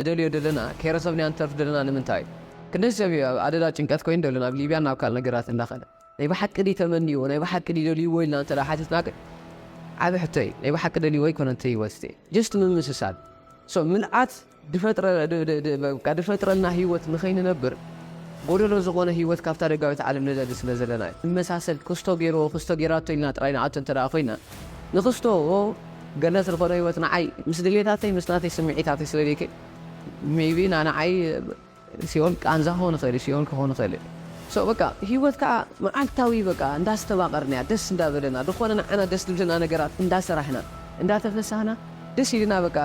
ንደልዮ ደለና ከይረሰብናዮ ንተርፍ ደለና ንምንታይ ክንደይ ሰብ እዩ ኣብ ኣደዳ ጭንቀት ኮይኑ ደሎ ናብ ሊብያን ናብ ካልእ ነገራትን እንዳኸደ ናይ ብሓቂ ድዩ ተመንይዎ ናይ ብሓቂ ድዩ ደልይዎ ኢልና እንተ ሓቲትና ግን ዓቢ ሕቶ እዩ ናይ ብሓቂ ደልይዎ ኣይኮነን እቲ ህይወት እቲ ጀስት ምምስሳል ሶ ምልኣት ድፈጥረ በቃ ድፈጥረልና ህይወት ንኸይንነብር ጎደሎ ዝኾነ ህይወት ካብታ ደጋዊት ዓለም ንደሊ ስለ ዘለና እዩ ንመሳሰል ክስቶ ገይርዎ ክስቶ ገይራቶ ኢልና ጥራይ ንኣቶ እንተ ኮይና ንክስቶ ገነት ዝኮነ ሂወት ንዓይ ምስ ድሌታተይ ምስ ናተይ ስሚዒታተይ ስለ ዘይከ ሜይቢ ናንዓይ ሲኦል ቃንዛ ክኮን ይክእል እዩ ሲኦል ክኮን ይክእል እዩ ሶ በቃ ሂወት ከኣ መዓልታዊ በቃ እንዳስተባቀርናያ ደስ እንዳበለና ድኮነ ንዓና ደስ ድብለና ነገራት እንዳሰራሕና እንዳተፈሳህና ደስ ኢሉና በቃ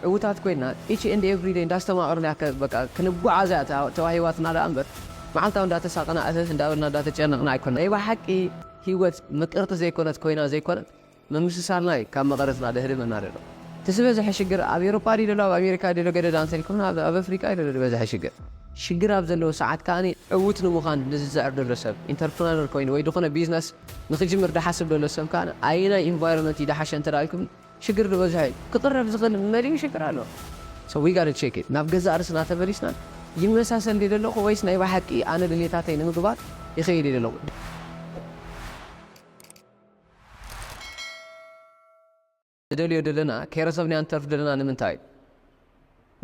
ዕውታት ኮይና ኢቺ ኤንድ ኤቭሪ ደይ እንዳስተማቀርናያ በቃ ክንጓዓዝ እያ ተዋሂባትና ደኣ እምበር መዓልታዊ እንዳተሳቀና እህህ እንዳበልና እንዳተጨነቅና ኣይኮናን ናይ በሓቂ ሂወት ምቅርቲ ዘይኮነት ኮይና ዘይኮነት ምምስሳልናይ ካብ መቐረጽና ደህሪ መና ደሎ እቲ ዝበዘሐ ሽግር ኣብ ኤሮፓ ድዩ ደሎ ኣብ ኣሜሪካ ድዩ ደሎ ገደድ ኣንሰር ይኩን ኣብ ኣብ ኣፍሪቃ እዩ ደሎ ድበዘሐ ሽግር። ሽግር ኣብ ዘለዎ ሰዓት ከኣ ዕውት ንሙኻን ንዝጽዕር ደሎ ሰብ ኢንተርፕረነር ኮይኑ ወይ ድኹነ ቢዝነስ ንክጅምር ድሓስብ ደሎ ሰብ ከኣ ኣየናይ ኢንቫይሮመንት እዩ ድሓሸ እንተ ኢልኩም ሽግር ድበዝሖ እዩ። ክቕረፍ ዝኽእል መሊኡ ሽግር ኣሎ so we gotta check it ናብ ገዛእ ርእስና ተመሊስና ይመሳሰል ድየ ደለኹ ወይስ ናይ ብሓቂ ኣነ ድልየታተይ ንምግባር ይኸይድ እየ ደለኹ? ንደልዮ ደለና ከይረሰብናዮ ንተርፍ ደለና ንምንታይ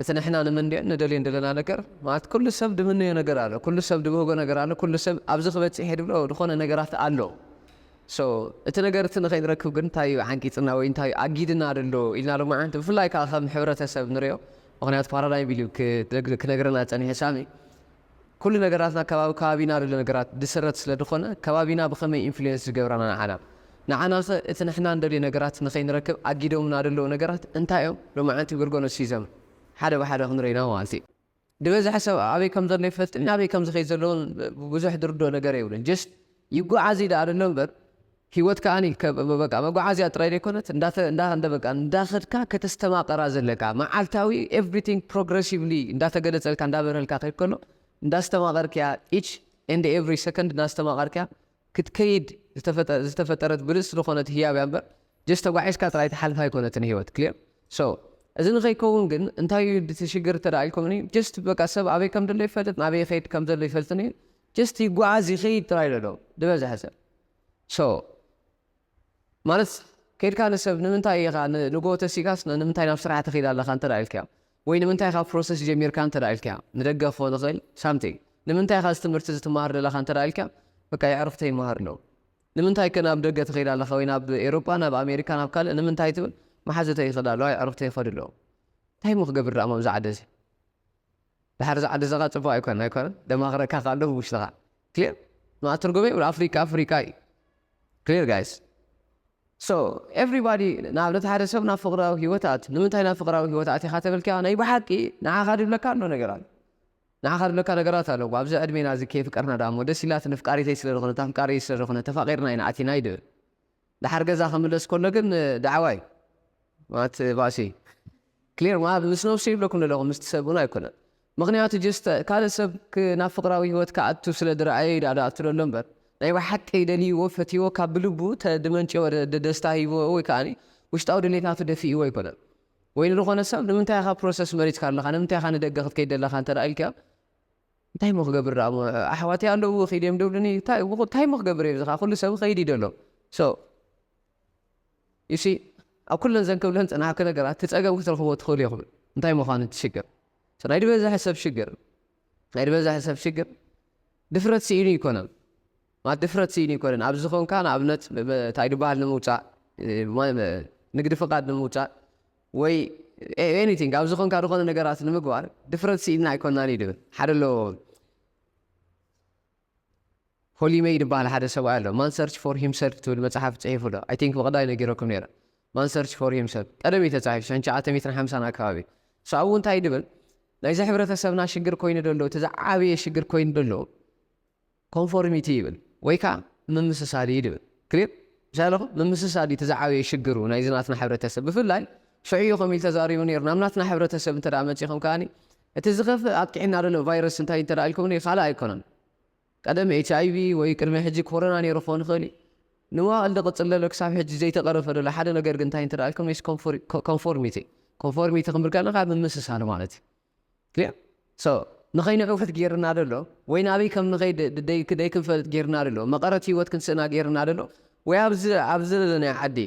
እቲ ንሕና ንምንዮን ንደልዮን ደለና ነገር ማለት ኩሉ ሰብ ድምነዮ ነገር ኣሎ ኩሉ ሰብ ድብህጎ ነገር ኣሎ ኩሉ ሰብ ኣብዚ ክበጽሕ እየ ድብሎ ድኾነ ነገራት ኣሎ ሶ እቲ ነገር እቲ ንኸይንረክብ ግን እንታይ እዩ ዓንቂጽና ወይ እንታይ እዩ ኣጊድና ደሎ ኢልና ሎማዓንቲ ብፍላይ ከዓ ከም ሕብረተሰብ ንሪኦ ምክንያቱ ፓራዳይም ኢሉ ክነግረና ዝጸኒሐ ሳሚ ኩሉ ነገራትና ከባቢ ከባቢና ድሎ ነገራት ድስረት ስለ ድኾነ ከባቢና ብኸመይ ኢንፍሉዌንስ ዝገብረና ንዓና? ንዓናኸ እቲ ንሕና ንደልዮ ነገራት ንኸይንረክብ ኣጊዶምና ድለዉ ነገራት እንታይ እዮም? ሎማዓንቲ ብርገኖ ሲዘም ሓደ ብሓደ ክንርኢ ኢና ማለት እዩ። ድበዝሐ ሰብ ኣበይ ከም ዘሎ ይፈልጥን ኣበይ ከም ዝኸይድ ዘሎ እውን ብዙሕ ድርድኦ ነገር የብሉን። ጀስት ይጎዓዙ እዩ ደኣ ድሎ እምበር ሂወት ከኣኒ በቃ መጎዓዝያ ጥራይ ዘይኮነት እንዳበቃ እንዳኸድካ ከተስተማቕራ ዘለካ መዓልታዊ ኤቭሪቲንግ ፕሮግረሲቭሊ እንዳተገለጸልካ እንዳበረሀልካ ክኸይድ ከሎ እንዳስተማቐርክያ ኢች ኤንድ ኤቭሪ ሰከንድ እንዳስተማቐርክያ ክትከይድ ዝተፈጠረት ብልጽቲ ዝኾነት ህያብ እያ እምበር ጀስት ተጓዒዝካ ጥራይ ትሓልፍ ኣይኮነትን ሂወት ክሊር ሶ እዚ ንኸይከውን ግን እንታይ እዩ እቲ ሽግር እንተደኣ ኢልኩምኒ ጀስት በቃ ሰብ ኣበይ ከም ዘሎ ይፈልጥ ናበይ ይኸይድ ከም ዘሎ ይፈልጥን እዩ ጀስት ይጓዓዝ ይኸይድ ጥራይ ዘሎ ዝበዝሐ ሰብ So ማለት ከይድካ ንሰብ ንምንታይ ኢኻ ንጉሆ ተሲእካስ ንምንታይ ናብ ስራሕ ትኺድ ኣለኻ እንተ ኢልካዮ ወይ ንምንታይ ኢኻ ፕሮሰስ ጀሚርካ እንተ ኢልካዮ ንደገ ክኾን ይኽእል ሳምቲንግ ንምንታይ ኢኻ እዚ ትምህርቲ እዚ ትመሃር ዘለኻ እንተ ኢልካዮ በቃ የዕሩኽተይ ይመሃሩ ኣለዉ ንምንታይከ ናብ ደገ ትኺድ ኣለኻ ወይ ናብ ኤሮጳ ናብ ኣሜሪካ ናብ ካልእ ንምንታይ ትብል መሓዙተይ ይኽድ ኣለዋ የዕሩኽተይ ይኸዱ ኣለዉ እንታይ እሞ ክገብር ደኣ ኣብዚ ዓዲ እዚ ድሓር እዚ ዓዲ እዚ ኸኣ ጽቡቕ ኣይኮነን ኣይኮነን ደማኽረካ ከኣ ኣሎ ብውሽጥኻ ክሊር ንኣተርጎመ ይብሉ ኣፍሪቃ ኣፍሪቃ እዩ ክሊር ጋይስ ሶ ኤቭሪባዲ ንኣብነት ሓደ ሰብ ናብ ፍቅራዊ ሂወት ኣት ንምንታይ ናብ ፍቅራዊ ሂወት ኣቲኻ ተበልካ ናይ ብሓቂ ንዓኻ ድብለካ ኣሎ ነገራት ንዓኻ ድብለካ ነገራት ኣሎ ኣብዚ ዕድሜና እዚ ከየፍቀርና ዳሞ ደስ ኢላት ንፍቃሪተይ ስለ ዝኾነ ታፍቃሪ ስለ ዝኾነ ተፋቂርና ኢና ኣቲና ይድብል ደሓር ገዛ ክምለስ ከሎ ግን ዳዕዋ እዩ ማለት ባእሲ እዩ ክሊር ማለት ምስ ነብሱ ይብለኩም ዘለኹ ምስቲ ሰብ እውን ኣይኮነን ምኽንያቱ ጀስት ካልእ ሰብ ናብ ፍቅራዊ ሂወት ክኣቱ ስለ ዝረኣየ እዩ ደኣ ዝኣቱ ዘሎ እምበር ናይ ብሓቂ ደልይዎ ፈትይዎ ካብ ብልቡ ተድመንጨወ ደስታ ሂብዎ ወይ ከኣ ውሽጣዊ ድሌታቱ ደፊእዎ ኣይኮነን ወይ ንዝኾነ ሰብ ንምንታይ ኢኻ ፕሮሰስ መሪጽካ ኣለኻ ንምንታይ ኢኻ ንደገ ክትከይድ ዘለኻ እንተ ኢልካዮ እንታይ እሞ ክገብር ደኣ እሞ ኣሕዋተይ ኣለዉ ኪድ እዮም ድብሉኒ እንታይ እንታይ እሞ ክገብር እየ እዚ ከኣ ኩሉ ሰብ ይኸይድ እዩ ዘሎ so you see ኣብ ኩለን ዘን ክብለን ዝጸናሕኩ ነገራት እቲ ጸገም ክትረኽብዎ ትኽእሉ ኢኹም እንታይ ምዃኑ እቲ ሽግር so ናይ ዝበዝሐ ሰብ ሽግር ናይ ዝበዝሐ ሰብ ሽግር ድፍረት ስኢኑ ኣይኮነን ማለት ድፍረት ስኢኑ ኣይኮነን ኣብዚ ኾንካ ንኣብነት እንታይ ድበሃል ንምውጻእ ንግዲ ፍቃድ ንምውጻእ ወይ ኤኒቲንግ ኣብ ዝኾንካ ዝኾነ ነገራት ንምግባር ድፍረት ስኢንና ኣይኮናን እዩ ድብል ሓደ ኣሎ ሆሊመይ ድበሃል ሓደ ሰብኣይ ኣሎ ማን ሰርች ፎር ሂምሰልፍ ትብል መፅሓፍ ፅሒፉ ኣሎ ኣይ ቲንክ ብቐዳይ ነጊረኩም ነይረ ማን ሰርች ፎር ሂምሰልፍ ቀደም እዩ ተፃሒፉ ሸን ሸዓተ ሚትን ሓምሳን ኣከባቢ እሱ ኣብኡ እንታይ ድብል ናይዚ ሕብረተሰብና ሽግር ኮይኑ ደሎ እቲ ዝዓበየ ሽግር ኮይኑ ደሎ ኮንፎርሚቲ ይብል ወይ ከኣ ምምስሳል እዩ ድብል clear ምስ ኣለኹም ምምስሳል እዩ እቲ ዝዓበየ ሽግሩ ናይዚ ናትና ሕብረተሰብ ብፍላይ ሽዑ እዩ ከምኡ ኢሉ ተዛሪቡ ኔሩ ናብ ናትና ሕብረተሰብ እንተ መጺኹም ከኣ እቲ ዝኸፍእ ኣጥቂዕና ዘሎ ቫይረስ እንታይ እንተ ኢልኩምኒ ካልእ ኣይኮነን ቀደም ኤች ኣይቪ ወይ ቅድሚ ሕጂ ኮሮና ኔሩ ክኾን ይኽእል እዩ ንመዋእል ዝቕጽል ዘሎ ክሳብ ሕጂ ዘይተቐረፈ ዘሎ ሓደ ነገር ግን እንታይ እንተ ኢልኩምኒ ኮንፎርሚቲ ኮንፎርሚቲ ክንብል ከለና ካብ ምምስሳል ማለት እዩ Clear? So ንኸይንዕውት ጌርና ዶ ኣሎ? ወይ ናበይ ከም ንኸይድ ደይክንፈልጥ ጌርና ዶ ኣሎ? መቐረት ህይወት ክንስእና ጌርና ዶ ኣሎ? ወይ ኣብዚ ኣብዚ ዘለናዮ ዓዲ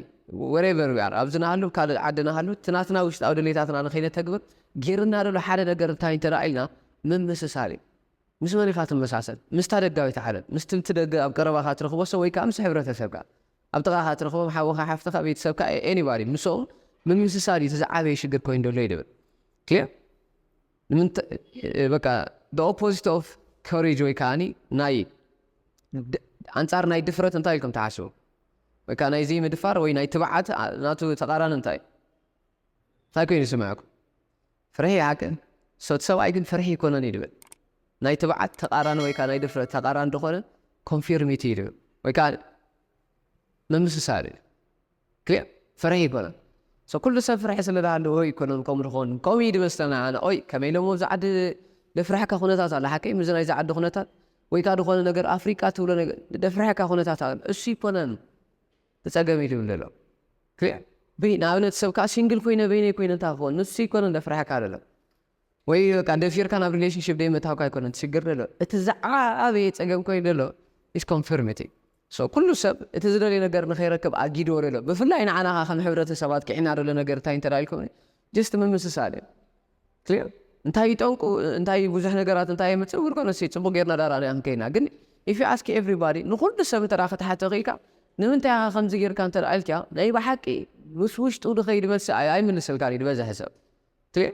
Wherever we are ኣብዚ ንሃሉ ኣብ ካልእ ዓዲ ንሃሉ እቲ ናትና ውሽጣዊ ድሌታትና ንኸይነተግብር ጌርና ዶ ኣሎ? ሓደ ነገር እንታይ እንተ ኢልና ምምስሳል እዩ። ምስ መን ኢኻ ትመሳሰል? ምስታ ደጋዊት ዓለም፣ ምስቲ ብቲ ደገ ኣብ ቀረባኻ ትረኽቦ ሰብ ወይ ከኣ ምስ ሕብረተሰብካ። ኣብ ጥቓኻ ትረኽቦም ሓውኻ ሓፍትኻ ቤተሰብካ ኤኒባዲ ምሶም ምምስሳል እዩ እቲ ዝዓበየ ሽግር ኮይኑ ደሎ ይድብል ክሊር ንምንታ በቃ the opposite of courage ወይ ከዓኒ ናይ ኣንጻር ናይ ድፍረት እንታይ ኢልኩም ትሓስቡ በቃ ናይ ዘይምድፋር ወይ ናይ ትብዓት ናቱ ተቓራኒ እንታይ እንታይ ኮይኑ ይስምዐኩም ፍርሒ ይሓቅን ሶቲ ሰብኣይ ግን ፍርሒ ኣይኮነን እዩ ድብል ናይ ትብዓት ተቃራኒ ወይ ከኣ ናይ ድፍረት ተቃራኒ ድኮነ ኮንፊርሚቲ እዩ ድብል ወይ ከኣ ምምስሳል እዩ ክሊር ፍርሒ ኣይኮነን ሶ ኩሉ ሰብ ፍርሒ ስለ ድሃለዎ ኣይኮነን ከምኡ ድኮን ከምኡ እዩ ድመስለና ኣነ ኦይ ከመይ ኢሎም ኣብዚ ዓዲ ደፍርሕካ ኩነታት ኣሎ ሓቀይ ምዚ ናይዚ ዓዲ ኩነታት ወይ ከኣ ድኮነ ነገር ኣፍሪቃ ትብሎ ነገር ደፍርሕካ ኩነታት ኣሎ እሱ ኣይኮነን ብጸገም ኢሉ ይብሎ ኣሎ ክሊዕ ብይ ንኣብነት ሰብ ከኣ ሲንግል ኮይነ በይነይ ኮይነ እንታይ ክኸውን ንሱ ኣይኮነን ዘፍርሐካ ዘሎ ወይ በቃ ደፊርካ ናብ ሪሌሽንሺፕ ደይምእታውካ ኣይኮነን ትሽግር ዘሎ እቲ ዝዓበየ ጸገም ኮይኑ ዘሎ ኢስ ኮንፊርሚቲ ሶ ኩሉ ሰብ እቲ ዝደልዮ ነገር ንኸይረክብ ኣጊድዎ ዘሎ ብፍላይ ንዓና ከኣ ከም ሕብረተሰብ ኣጥቂዕና ዘሎ ነገር እንታይ እንተ ኢልኩምኒ ጀስት ምምስሳል እዩ clear እንታይ እዩ ጠንቁ እንታይ እዩ ብዙሕ ነገራት እንታይ የምፅእ we're gonna see ፅቡቅ ጌርና ዳር ኣርኣና ክንከይድ ኢና ግን if you ask everybody ንኩሉ ሰብ እንተ ክትሓቶ ክኢልካ ንምንታይ ኢኻ ከምዚ ጌርካ እንተ ኢልካ ናይ ብሓቂ ምስ ውሽጡ ዝኸይድ መልሲ ኣይ- ኣይምልስልካን እዩ ዝበዝሐ ሰብ clear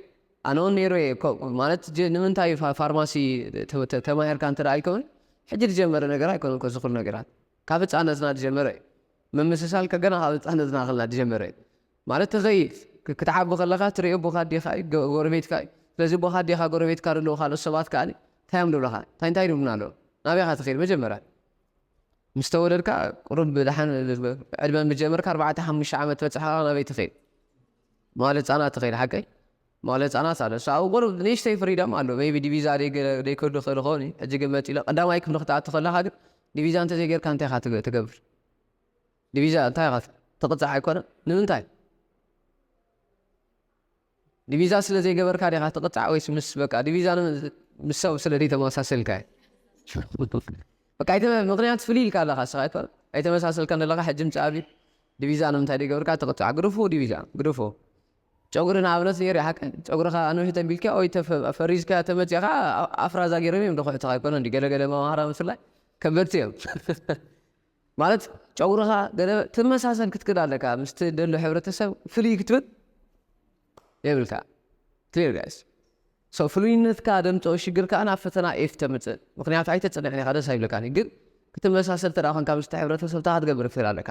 ኣነ እውን ነይሩ እየ እኮ ማለት ጀ- ንምንታይ ፋ- ፋርማሲ ተ- ተ- ተማሂርካ እንተ ኢልካ እውን ሕጂ ዝጀመረ ነገር ኣይኮነን እኮ እዚ ኩሉ ነገራት ካብ ህፃነትና ዝጀመረ እዩ ምምስሳል ከ ገና ካብ ህፃነትና ከለና ዝጀመረ እዩ ማለት ትኸይድ ክትዓቢ ከለኻ ትሪኦ ቦኻ ኣዴኻ እዩ ጎረቤትካ እዩ ስለዚ ቦኻ ኣዴኻ ጎረቤትካ ዘለዉ ካልኦት ሰባት ከኣ እንታይ እዮም ዝብሉኻ እንታይ እንታይ ይብሉና ኣለዉ ናበይ ኢኻ ትኸይድ መጀመርያ ምስ ተወለድካ ቁሩብ ደሓን ዕድመ ምስ ጀመርካ ኣርባዕተ ሓሙሽተ ዓመት ትበጽሕ ከኣ ናበይ ትኸይድ መዋለ ህጻናት ትኸይድ ሓቀይ መዋለ ህጻናት ኣሎ እሱ ኣብኡ ቁሩብ ንእሽተይ ፍሪደም ኣሎ ሜይቢ ዲቪዛ ዘይከዱ ይኽእል ይኸውን እዩ ሕጂ ግን መጺኡ ቀዳማይ ክፍሊ ክትኣቱ ከለኻ ግን ዲቪዛ እንተዘይጌርካ እንታይ ኢኻ ትገብር ዲቪዛ እንታይ ኢኻ ትቕጻዕ ኣይኮነን ንምንታይ ዲቪዛ ስለ ዘይገበርካ ዲኻ ትቕጻዕ ወይስ ምስ በቃ ዲቪዛ ምስ ሰብ ስለ ዘይተመሳሰልካ በቃ ኣይተ ምክንያት ፍልይ ኢልካ ኣለኻ ንስኻ ኣይኮነ ኣይተመሳሰልካን ዘለኻ ሕጂ ምጽእ ኣብዩ ዲቪዛ ንምንታይ ዘይገብርካ ትቕጻዕ ግድፉ ዲቪዛ ግድፉ ጨጉሪ ንኣብነት ነይሩ ሓቂ ጨጉርኻ ኣንውሒ ተቢልካ ወይ ፈሪዝካ ተመፂኻ ኣፍራዛ ገይሮም እዮም ድኹዕትኻ ኣይኮነ እንዲ ገለገለ መማህራን ብፍላይ ከበድቲ እዮም ማለት ጨጉርኻ ገለ ትመሳሰል ክትክል ኣለካ ምስ ትደሎ ሕብረተሰብ ፍልይ ክትብል የብልካ ክሊር ጋይስ ሶ ፍሉይነትካ ደምፀኦ ሽግር ከኣ ናብ ፈተና ኤፍ ተምፅእ ምክንያቱ ኣይተፅንዕን ኢኻ ደስ ኣይብለካን እዩ ግን ክትመሳሰል ተደኣ ኮንካ ምስቲ ሕብረተሰብ እንታይ ክትገብር ትክእል ኣለካ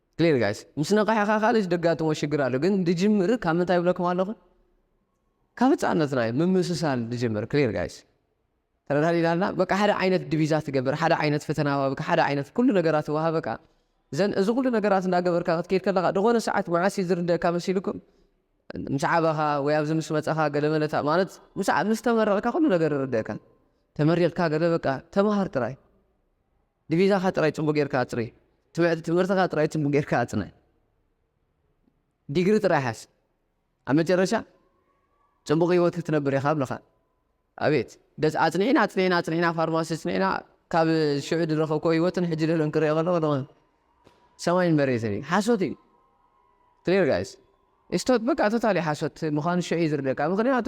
Clear guys ምስ ነቐሕኻ ካልእ ደጋጥሞ ሽግር ኣሎ ግን ድጅምር ካብ ምንታይ ይብለኩም ኣለኹ ካብ ህጻነትና እዩ ምምስሳል ድጅምር Clear guys ተረዳዲና ኣለና በቃ ሓደ ዓይነት ድቪዛ ትገብር ሓደ ዓይነት ፈተና ዋብካ ሓደ ዓይነት ኩሉ ነገራት ይወሃበካ ዘን እዚ ኩሉ ነገራት እንዳገበርካ ክትከይድ ከለኻ ዝኾነ ሰዓት መዓስ እዩ ዝርደእካ መሲልኩም ምስ ዓበኻ ወይ ኣብዚ ምስ መጸኻ ገለ መለታ ማለት ምስ ተመረቕካ ኩሉ ነገር ይርደእካ ተመሪቕካ ገለ በቃ ተማሃር ጥራይ ዲቪዛኻ ጥራይ ጽቡቕ ጌርካ ኣጽሪ። ትምህርትኻ ጥራይ ጽቡቕ ጌርካ ኣጽንዕ። ዲግሪ ጥራይ ሓዝ። ኣብ መጨረሻ ጽቡቕ ህይወት ክትነብር ኢኻ ኣብልኻ። ኣቤት ደስ ኣጽኒዕና ኣጽኒዕና ኣጽኒዕና ፋርማሲ ኣጽኒዕና ካብ ሽዑ ዝረኸብክዎ ህይወትን ሕጂ ዘለኒ ክርኦ ከለኹ ድማ ሰማይን መሬትን እዩ። ሓሶት እዩ። ክሊር ጋይስ። ስቶት በቃ ቶታሊ ሓሶት ምዃኑ ሽዑ እዩ ዝርደካ ምኽንያቱ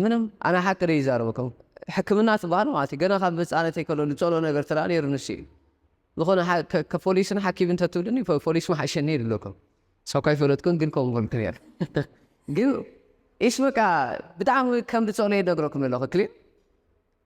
ምንም ኣነ ሓቂ ደይ ይዛረበኩም ሕክምና ትባሃል ማለት እዩ ገና ካብ ህጻነተይ ከሎ ልጸሎ ነገር ተደኣ ነይሩ ንሱ እዩ ዝኾነ ከፖሊስን ሓኪምን ተትብልኒ ፖሊስ ምሓሸኒ ይብለኩም ሳብ ካይፈለጥኩን ግን ከምኡ በልኩ ነይሩ ግን ኢስ በቃ ብጣዕሚ ከም ልጸሎ ይነግረኩም ኣለኹ ክሊን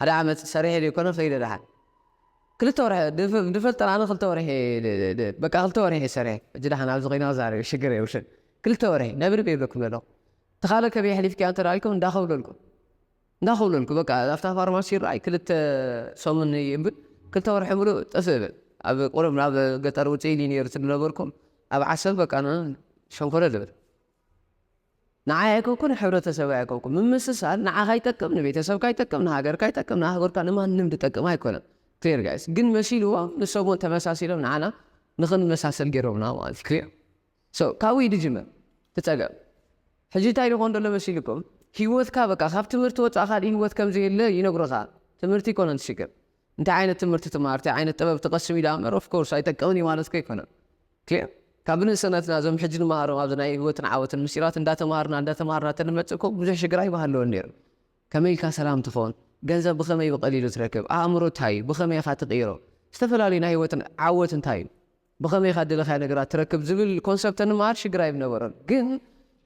ሓደ ዓመት ሰሪሐ ዘይኮነ ከይደ ደሓን ክልተ ወርሒ ድፈልጠን ኣነ ክልተ ወርሒ በቃ ክልተ ወርሒ እየ ሰሪሐ ሕጂ ደሓን ኣብዚ ኮይነ ክዛረብ ሽግር የብሉን ክልተ ወርሒ ነብሪ ዶ ይብለኩም ዘለኹ እቲ ካልእ ከመይ ኣሕሊፍክያ እንተ ኢልኩም እንዳኸብለልኩ እንዳኸብለልኩ በቃ ኣብታ ፋርማሲ ይረኣይ ክልተ ሰሙን ይብል ክልተ ወርሒ ምሉእ ጥፍእ እብል ኣብ ቁሩብ ናብ ገጠር ውፅእ ኢሊ ነይሩ ዝነበርኩም ኣብ ዓሰብ በቃ ሸንኮለል እብል ንዓይ ኣይኮንኩን ንሕብረተሰበይ ኣይኮንኩን ምምስሳል ንዓኻ ይጠቅም ንቤተሰብካ ይጠቅም ንሃገርካ ይጠቅም ንኣህጉርካ ንማንም ድጠቅም ኣይኮነን clear guys ግን መሲልዎም ንሶም ውን ተመሳሲሎም ንዓና ንኽንመሳሰል ጌሮምና ማለት እዩ clear so ካብኡ ኢዩ ድጅምር እቲ ጸገም ሕጂ እንታይ ድኾን ደሎ መሲልኩም ሂወትካ በቃ ካብ ትምህርቲ ወጻእ ካልእ ሂወት ከምዘየለ ይነግሩኻ ትምህርቲ ኣይኮነን እቲ ሽግር እንታይ ዓይነት ትምህርቲ ትማር፣ እንታይ ዓይነት ጥበብ ትቐስም እዩ ደኣ እምበር ኦፍ ኮርስ ኣይጠቅምን እዩ ማለትኩ ኣይኮነን። ክሊር? ካብ ብንእስነትና እዞም ሕጂ ንመሃሮም ኣብዚ ናይ ህይወትን ዓወትን ምስጢራት እንዳተማሃርና እንዳተማሃርና ተንመጽእ እኮ ብዙሕ ሽግር ኣይምሃለወን ነይሩ። ከመይ ኢልካ ሰላም ትኾን፣ ገንዘብ ብኸመይ ብቐሊሉ ትረክብ፣ ኣእምሮ እንታይ እዩ፣ ብኸመይ ኢኻ ትቕይሮ፣ ዝተፈላለዩ ናይ ህይወትን ዓወት እንታይ እዩ፣ ብኸመይ ኢኻ እደለኻዮ ነገራት ትረክብ ዝብል ኮንሰፕት ተንመሃር ሽግር ኣይምነበሮን። ግን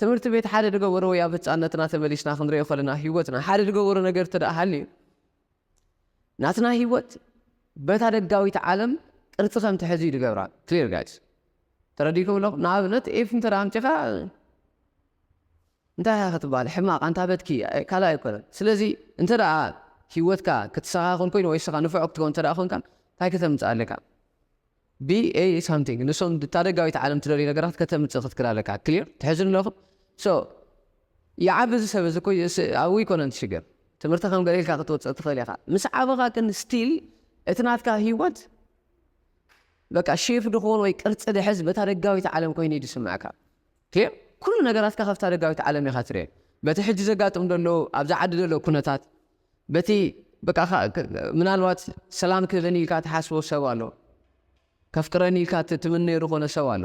ትምህርቲ ቤት ሓደ ድገበሮ ወይ ኣብ ህጻነትና ተመሊስና ክንርእዮ ከለና ህይወትና ሓደ ድገበሮ ነገር እንተደኣ ሃልዩ ናትና ሂወት በታ ደጋዊት ዓለም ቅርጺ ከም ትሕዝ እዩ ዝገብራ clear guys ተረዲእኩም ኣለኹም ንኣብነት ኤፍ እንተ ኣምጺኻ እንታይ ኢኻ ክትበሃል ሕማቕ ኣንታ በትኪ ካልእ ኣይኮነን ስለዚ እንተ ሂወትካ ክትሰኻኽል ኮይኑ ወይ ንስኻ ንፉዕ ክትከውን እንተ ኮንካ እንታይ ከተምጽእ ኣለካ ቢ ኤ ሳምቲንግ ንሶም እታ ደጋዊት ዓለም ትደልዮ ነገራት ከተምጽእ ክትክል ኣለካ ክሊር ትሕዙኒ ኣለኹም ሶ ይዓቢ እዚ ሰብ እዚ እኮ ኣብኡ ኣይኮነን እቲ ሽግር ትምህርቲ ከም ገለ ኢልካ ክትወጽእ ትኽእል ኢኻ ምስ ዓበኻ ግን ስቲል እቲ ናትካ ሂወት በቃ ሼፍ ድኾን ወይ ቅርጺ ድሕዝ በታ ደጋዊት ዓለም ኮይኑ እዩ ዝስምዕካ ክሊር ኩሉ ነገራትካ ካብታ ደጋዊት ዓለም ኢኻ ትርእዮ በቲ ሕጂ ዘጋጥም ዘሎ ኣብዛ ዓዲ ዘሎ ኩነታት በቲ በቃ ምናልባት ሰላም ክህበኒ ኢልካ ትሓስቦ ሰብ ኣሎ፣ ከፍቅረኒ ኢልካ ትምነዮ ዝኾነ ሰብ ኣሎ።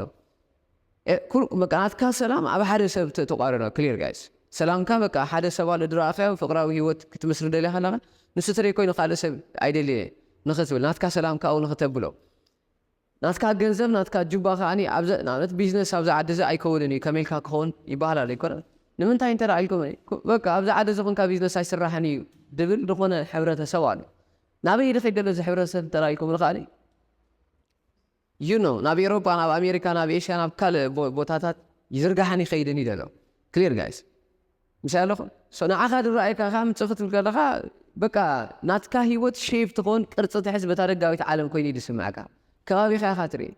ናትካ ሰላም ኣብ ሓደ ሰብ ተቋርኖ ክሊር ጋይስ ሰላምካ በቃ ሓደ ሰብ ኣሎ ድረኣኻዮ ፍቅራዊ ሂወት ክትምስርት ደሊኻ ኣለኻ ንሱ ትረይ ኮይኑ ካልእ ሰብ ኣይደልየ ንኽትብል ናትካ ሰላም ካብኡ ንኽተብሎ ናትካ ገንዘብ ናትካ ጁባ ከኣ ኣብዘ ንኣብነት ቢዝነስ ኣብዚ ዓዲ እዚ ኣይከውንን እዩ ከመይ ኢልካ ክኸውን ይበሃላል ኣይኮነን ንምንታይ እንተ ኢልኩም በቃ ኣብዚ ዓዲ እዚ ኮንካ ቢዝነስ ኣይስራሕን እዩ ድብል ድኾነ ሕብረተ ሰብ ኣሎ ናበይ ድኺድ ደሎ እዚ ሕብረተ ሰብ እንተ ኢልኩም ንኸኣ you know ናብ ኤሮፓ ናብ ኣሜሪካ ናብ ኤሽያ ናብ ካልእ ቦታታት ይዝርጋሕን ይኸይድን እዩ ደሎ clear guys ምሳይ ኣለኹ so ንዓኻ ድረኣየካ ከኣ ምጽእ ክትብል ከለኻ በቃ ናትካ ሂወት shape ትኾን ቅርጺ ትሕዝ በታ ደጋዊት ዓለም ኮይኑ እዩ ድስመዐካ ከባቢኻ ኢኻ ትርኢ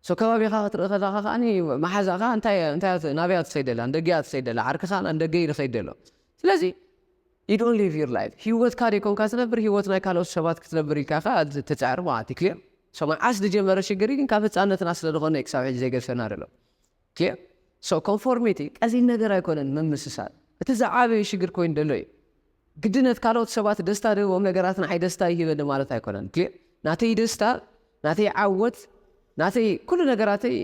so ከባቢኻ ክትርኢ ከለኻ ከኣኒ መሓዛኻ እንታይ እንታይ ናበይ እያ ትኸይድ ዘላ ንደገ እያ ትኸይድ ዘላ ዓርክኻ ንደገ እዩ ዝኸይድ ዘሎ ስለዚ you don't live your life ሂወትካ ደይኮንካ ትነብር ሂወት ናይ ካልኦት ሰባት ክትነብር ኢልካ ከኣ ትጽዕር ማለት እዩ ክሊር so መዓስ ዝጀመረ ሽግር ግን ካብ ህጻነትና ስለ ዝኾነ ክሳብ ሕጂ ዘይገድፈና ዘሎ ኪእ so ኮንፎርሚቲ ቀሊል ነገር ኣይኮነን ምምስሳል እቲ ዝዓበየ ሽግር ኮይኑ ደሎ እዩ ግድነት ካልኦት ሰባት ደስታ ድህቦም ነገራት ንዓይ ደስታ ይህበኒ ማለት ኣይኮነን ኪእ ናተይ ደስታ ናተይ ዓወት ናተይ ኩሉ ነገራተይ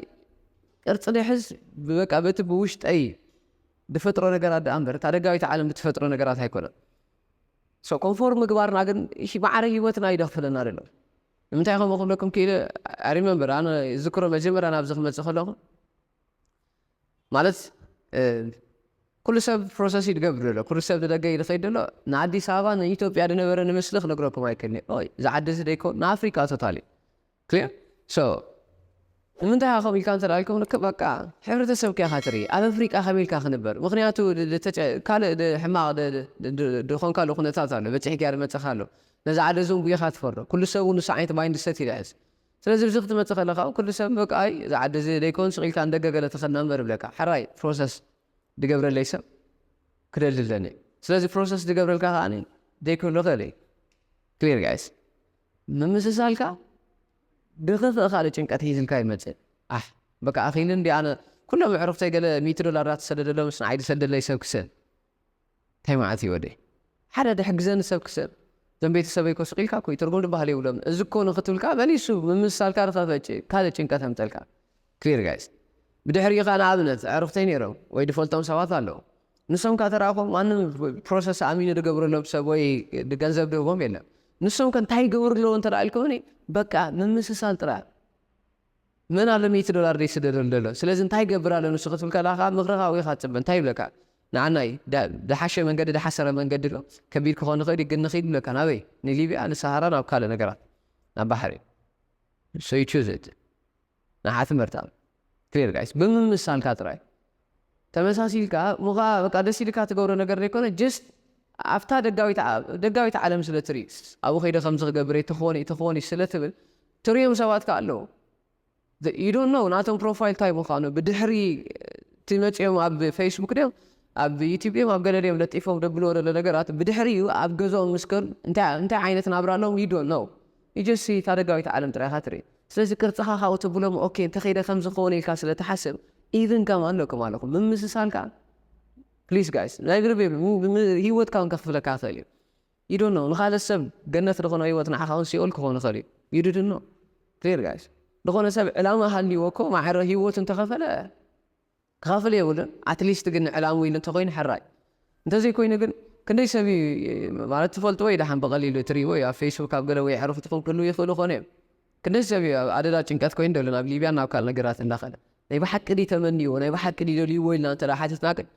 ቅርጺ ድሕዝ በቃ በቲ ብውሽጠይ ድፈጥሮ ነገራት ደኣ እምበር እታ ደጋዊት ዓለም ብትፈጥሮ ነገራት ኣይኮነን so ኮንፎርም ምግባርና ግን ማዕረ ህይወትና እዩ ደክፍለና ደሎ ንምንታይ ከምኡ ክብለኩም ክኢለ I remember ኣነ ይዝክሮ መጀመርያ ናብዚ ክመጽእ ከለኹ ማለት ኩሉ ሰብ ፕሮሰስ እዩ ዝገብር ዘሎ ኩሉ ሰብ ንደገ እዩ ዝኸይድ ዘሎ ንኣዲስ ኣበባ ንኢትዮጵያ ዝነበረ ንምስሊ ክነግረኩም ኣይክእልን እየ እዛ ዓዲ እዚ ዘይኮን ንኣፍሪቃ ቶታሊ ክሊር ሶ ንምንታይ ኢኻ ከምኡ ኢልካ እንተ ኢልኩም ልክዕ በቃ ሕብረተሰብካ ኢኻ ትርኢ ኣብ ኣፍሪቃ ከመይ ኢልካ ክንበር ምኽንያቱ ካልእ ሕማቕ ድኾንካሉ ኩነታት ኣሎ በጺሕኪያ ድመጽኻ ኣሎ ነዛ ዓዲ እዚ ውን ጉይ ኢኻ ትፈርዶ ኩሉ ሰብ ውን ንሱ ዓይነት ማይን ድሰት እዩ ድሕዝ ስለዚ ኣብዚ ክትመጽእ ከለኻ ውን ኩሉ ሰብ በቃ ኣይ እዚ ዓዲ እዚ ደይኮን ስቕ ኢልካ ንደገ ገለ ተኸድና እንበር ይብለካ ሕራይ ፕሮሰስ ድገብረለይ ሰብ ክደሊ ኣለኒ ስለዚ ፕሮሰስ ድገብረልካ ከኣ ደይክህሉ ይኽእል እዩ ክሊር ጋይስ ምምስሳልካ ብኽፍእ ካልእ ጭንቀት ሒዝልካ ይመጽእ ኣሕ በቃ ኣኺሉ እንድየ ኣነ ኩሎም ኣዕሩኽተይ ገለ ሚእቲ ዶላር ዳተሰደደሎምስ ንዓይ ድሰደለይ ሰብ ክስእን ታይ መዓት እየ ወደይ ሓደ ድሕግዘኒ ሰብ ክስእን እዞም ቤተሰበይ እኮ ስቅ ኢልካ እኮ እዩ ትርጉም ድበሃል የብሎምን እዚ እኮ ንኽትብል ከኣ መሊሱ ምምስሳልካ ድኸፈጭ ካልእ ጭንቀት ኣምጸልካ Clear guys ብድሕሪኡ ከኣ ንኣብነት ኣዕሩኽተይ ኔሮም ወይ ድፈልጦም ሰባት ኣለዉ ንሶም ከኣ ተራእኮም ማንም ፕሮሰስ ኣሚኑ ድገብረሎም ሰብ ወይ ገንዘብ ድህቦም የለን ንሶም ከ እንታይ ይገብሩ ኣለዉ እንተ ኢልኩምኒ በቃ ምምስሳል ጥራይ መን ኣሎ ሚእቲ ዶላር ደይስደደሉ ደሎ ስለዚ እንታይ ይገብር ኣሎ ንሱ ክትብል ከለካ ከኣ ምክሪ ካብኡ ኢካ ትጽበ እንታይ ይብለካ ንዓናይ ድሓሸ መንገዲ ድሓሰረ መንገዲ ኣሎ ከቢድ ክኮን ይክእል እዩ ግን ንኪድ ይብለካ ናበይ ንሊብያ ንሳሃራ ናብ ካልእ ነገራት ናብ ባሕሪ so you choose it ንዓ ትምህርታ clear guys ብምምሳልካ ጥራይ ተመሳሲልካ እሞ ከኣ በቃ ደስ ኢልካ ትገብሮ ነገር ዘይኮነ just ኣብታ ደጋዊት ደጋዊት ዓለም ስለ ትርኢ ኣብኡ ከይደ ከምዚ ክገብር እቲ ክኾን እቲ ክኾን ስለ ትብል ትርእዮም ሰባት ከኣ ኣለዉ you don't know ናቶም ፕሮፋይል ታይ ምዃኑ ብድሕሪ እቲ መጺኦም ኣብ ፌስቡክ ድዮም ኣብ ዩቲብ ድዮም ኣብ ገለ ድዮም ለጢፎም ደብልዎ ዘሎ ነገራት ብድሕሪኡ ኣብ ገዝኦም ምስ ከዱ እንታይ እንታይ ዓይነት ናብራ ኣለዎም you don't know ንጀሲ እታ ደጋዊት ዓለም ጥራይ ኢኻ ትርኢ ስለዚ ቅርጽኻ ካብኡ ተብሎ እሞ ኦኬ እንተ ከይደ ከምዚ ክኸውን ኢልካ ስለ ትሓስብ ኢቭን ጋም ኣለኩም ኣለኩም ምምስሳል ከኣ please guys ናይ ብልቢ ሂወትካ ውን ከኽፍለካ ይኽእል እዩ you don't know ንኻልእ ሰብ ገነት ዝኾኖ ሂወት ንዓኻ ውን ሲኦል ክኾን ይኽእል እዩ you didn't know clear guys ዝኾነ ሰብ ዕላማ ሃልይዎ እኮ ማዕረ ሂወቱ እንተኸፈለ ክኸፍል የብሉን ኣትሊስት ግን ንዕላምኡ ኢሉ እንተኾይኑ ሕራይ እንተዘይኮይኑ ግን ክንደይ ሰብ እዩ ማለት ትፈልጥዎ እዩ ደሓን ብቐሊሉ እትሪእዎ እዩ ኣብ ፌስቡክ ኣብ ገለ ወይ ኣዕሩኹትኹም ክህልው ይኽእሉ ኮኑ እዮም ክንደይ ሰብ እዩ ኣብ ኣደዳ ጭንቀት ኮይኑ ደሎ ናብ ሊብያን ናብ ካልእ ነገራት እንዳኸደ ናይ ብሓቂ ድዩ ተመንይዎ ናይ ብሓቂ ድዩ ደልይዎ ኢልና እንተ ሓቲትና ግን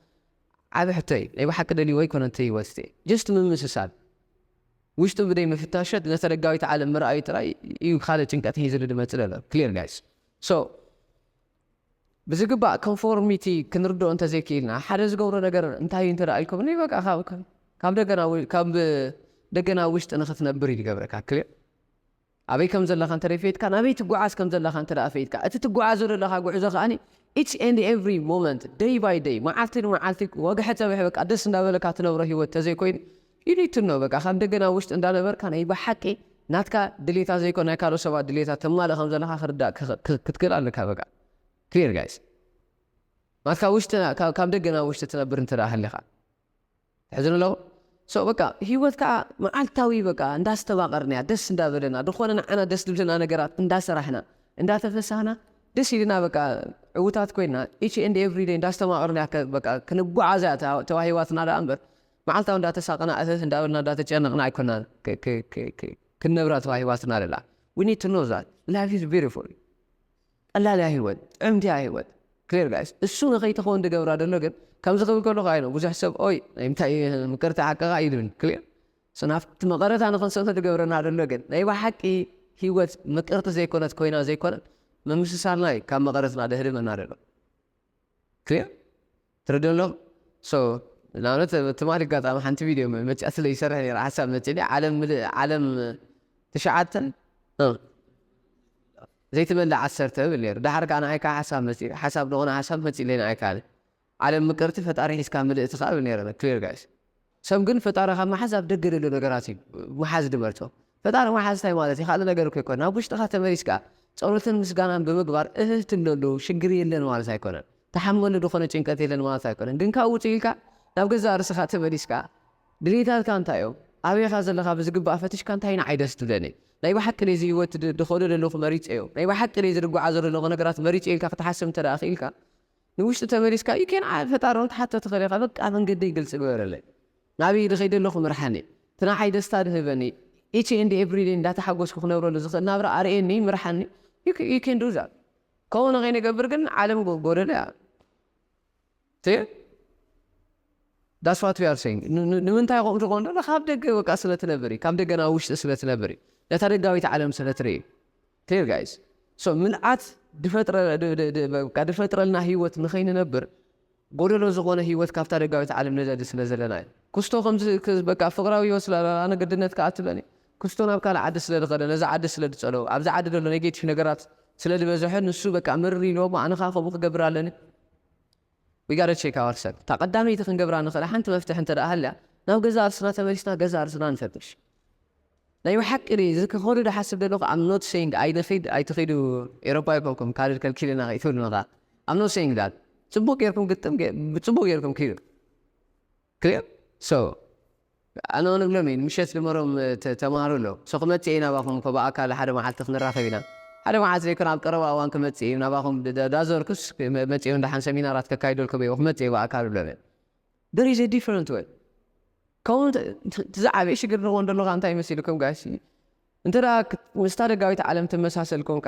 ዓቢ ሕቶ እዩ ናይ ብሓቂ ደልይዎ ኣይኮነን እቲ ህይወት እቲ ጀስት ምምስሳል ውሽጡ ብደይ ምፍታሸት ነቲ ደጋዊት ዓለም ምርኣዩ ጥራይ እዩ ካልእ ጭንቀት ሒዝሉ ድመጽእ ደሎ ክሊር ጋይስ ሶ ብዝግባእ ኮንፎርሚቲ ክንርድኦ እንተዘይክኢልና ሓደ ዝገብሮ ነገር እንታይ እዩ እንተ ኢልኩምኒ በቃ ካብ ደገ ናብ ካብ ደገ ናብ ውሽጢ ንኽትነብር እዩ ዝገብረካ ክሊር ኣበይ ከም ዘለኻ እንተ ፈይትካ ናበይ ትጓዓዝ ከም ዘለኻ እንተ ፈይትካ እቲ ትጓዓዞ ዘለኻ ጉዕዞ ከኣ ኢች ኤንድ ኤቭሪ ሞመንት ደይ ባይ ደይ መዓልቲ ንመዓልቲ ወግሐ ጸብሐ በቃ ደስ እንዳበለካ ትነብሮ ሂወት ተዘይኮይኑ ኢሊትኖ በቃ ካብ ደገ ናብ ውሽጢ እንዳ ነበርካ ናይ ብሓቂ ናትካ ድሌታት ዘይኮነ ናይ ካልኦት ሰባት ድሌታት ተማልእ ከም ዘለካ ክርዳእ ክትክእል ኣለካ በቃ clear guys ናትካ ውሽጢ ካብ ደገ ናብ ውሽጢ ትነብር እንተ ሃሊካ ትሕዝን ኣለኩ so በቃ ሂወት ከኣ መዓልታዊ በቃ እንዳ ኣስተባቀርናያ ደስ እንዳ በለና ድኮነ ንዓና ደስ ዝብለና ነገራት እንዳ ሰራሕና እንዳ ተፈሳህና ደስ ኢልና በቃ ዕውታት ኮይና each and every day እንዳ ኣስተማቀርናያ በቃ ክንጓዓዛ ተዋሂባትና ደኣ እንበር መዓልታዊ እንዳተሳቀና እህህ እንዳበልና እንዳተጨነቅና ኣይኮናን ክንነብራ ተዋሂባትና ዘላ we need to know that life is beautiful ቀላል እያ ሂወት ጥዕምቲ እያ ሂወት clear guys እሱ ንከይትከውን ዝገብራ ዘሎ ግን ከምዚ ክብል ከለኩ ኣይነ ብዙሕ ሰብ ኦይ ናይ ምንታይ ምቅርቲ ሓቅካ እዩ ዝብል clear so ናብቲ መቀረታ ንክንሰቶ ዝገብረና ዘሎ ግን ናይ ብሓቂ ሂወት ምቅርቲ ዘይኮነት ኮይና ዘይኮነት ምምስሳልና እዩ ካብ መቀረትና ዘህድመና ዘሎ Clear? ትርድኡ ዶ? So ንኣብነት ትማሊ ኣጋጣሚ ሓንቲ ቪድዮ መጺኣ ስለ ይሰርሕ ነይረ ሓሳብ መጺእኒ ዓለም ምልእ ዓለም ትሽዓተ ዘይትመልእ ዓሰርተ እብል ነይሩ ደሓር ከኣ ንዓይ ከኣ ሓሳብ መጺኡ ሓሳብ ንቕነ ሓሳብ መጺእለይ ንዓይ ከኣ ዓለም ምቅርቲ ፈጣሪ ሒዝካ ምልእቲ ከኣ እብል ነይረ clear guys ሰብ ግን ፈጣሪ ካብ ምሓዝ ኣብ ደገ ዘሎ ነገራት እዩ ምሓዝ ድመርጾ። ፈጣሪ ምሓዝ ታይ ማለት እዩ ካልእ ነገር እኮ ኣይኮነን ናብ ውሽጥኻ ተመሊስካ ጸሎትን ምስጋናን ብምግባር እህህ ትብለሉ ሽግር የለን ማለት ኣይኮነን ትሓምመሉ ድኾነ ጭንቀት የለን ማለት ኣይኮነን ግን ካብኡ ውጽእ ኢልካ ናብ ገዛእ ርእስኻ ተመሊስካ ድልየታትካ እንታይ እዮም ኣበይ ኢኻ ዘለኻ ብዝግባእ ፈትሽካ እንታይ ንዓይ ደስ ትብለኒ ናይ ብሓቂ ድየ እዚ ሂወት ድኸዶ ደለኹ መሪጸዮ ናይ ብሓቂ ድየ እዚ ድጓዓዞ ደለኹ ነገራት መሪጸዮ ኢልካ ክትሓስብ እንተ ክኢልካ ንውሽጢ ተመሊስካ እዩ ኬን ዓይ ፈጣሪ ውን ክትሓቶ ትኽእል ኢኻ በቃ መንገደይ ግልፂ ግበረለይ ናበይ ድኸይድ ኣለኹ ምርሓኒ እቲ ንዓይ ደስታ ድህበኒ ኢቺ ኤንድ ኤቭሪ ደይ እንዳተሓጎስኩ ክነብረሉ ዝኽእል ናብራ ኣርእየኒ ምርሓኒ ዩ ኬን ዱ ዛት ከምኡ ንኸይንገብር ግን ዓለም ጎደሎ እያ ቴ ዳስ ዋት ዊ ኣር ሰይንግ ንምንታይ ከምኡ ዝኾን ዘሎ ካብ ደገ በቃ ስለ ትነብር እዩ ካብ ደገ ናብ ውሽጢ ስለ ትነብር እዩ ነታ ደጋዊት ዓለም ስለ ትርኢ እዩ ቴር ጋይስ ሶ ምልኣት ድፈጥረልና ህይወት ንኸይንነብር ጎደሎ ዝኾነ ህይወት ካብታ ደጋዊት ዓለም ንደሊ ስለ ዘለና እዩ ኩስቶ ከምዚ በቃ ፍቅራዊ ህይወት ስለ ኣነ ግድነት ከኣ ትብለኒ ኩስቶ ናብ ካልእ ዓዲ ስለ ድኸደ ነዛ ዓዲ ስለ ድጸለዎ ኣብዚ ዓዲ ደሎ ኔጌቲቭ ነገራት ስለ ድበዘሐ ንሱ በቃ ምርር ኢልዎሞ ኣነ ከኣ ከምኡ ክገብር ኣለኒ We gotta check ourself እታ ቀዳመይቲ ክንገብራ ንኽእላ ሓንቲ መፍትሒ እንተድኣ ሃልያ ናብ ገዛእ ርስና ተመሊስና ገዛእ ርስና ንፈትሽ። ናይ ብሓቂ ድየ እዚ ክከዱ ድሓስብ ደለኩ I'm not saying ኣይንኪድ ኣይትኪዱ ኤሮፓ ኣይኮንኩም ካርድ ከልኪልና ከይትብሉኒ ከኣ I'm not saying that ጽቡቅ ጌርኩም ግጥም ብጽቡቅ ጌርኩም ኪዱ። Clear? So ኣነ ውን እብሎም እየ ምሸት ድመሮም ተማሃሩ እሎም so ክመጽእ እየ ናባኹም እኮ ብኣካል ሓደ መዓልቲ ክንራኸብ ኢና ሓደ መዓልቲ ዘይኮነ ኣብ ቀረባ እዋን ክመጽእ እየ ናባኹም ዳዞርኩስ መጽየ ውን ደሓን ሰሚናራት ከካይደልኩም እየ ክመጽእ እየ ብኣካል እብሎም እየ There is a different way ከምኡ እቲ ዝዓበየ ሽግር ንኾን ደሎ ከኣ እንታይ መሲሉ ከም ጋሽ እንተ ምስታ ደጋዊት ዓለም ትመሳሰል ኮንካ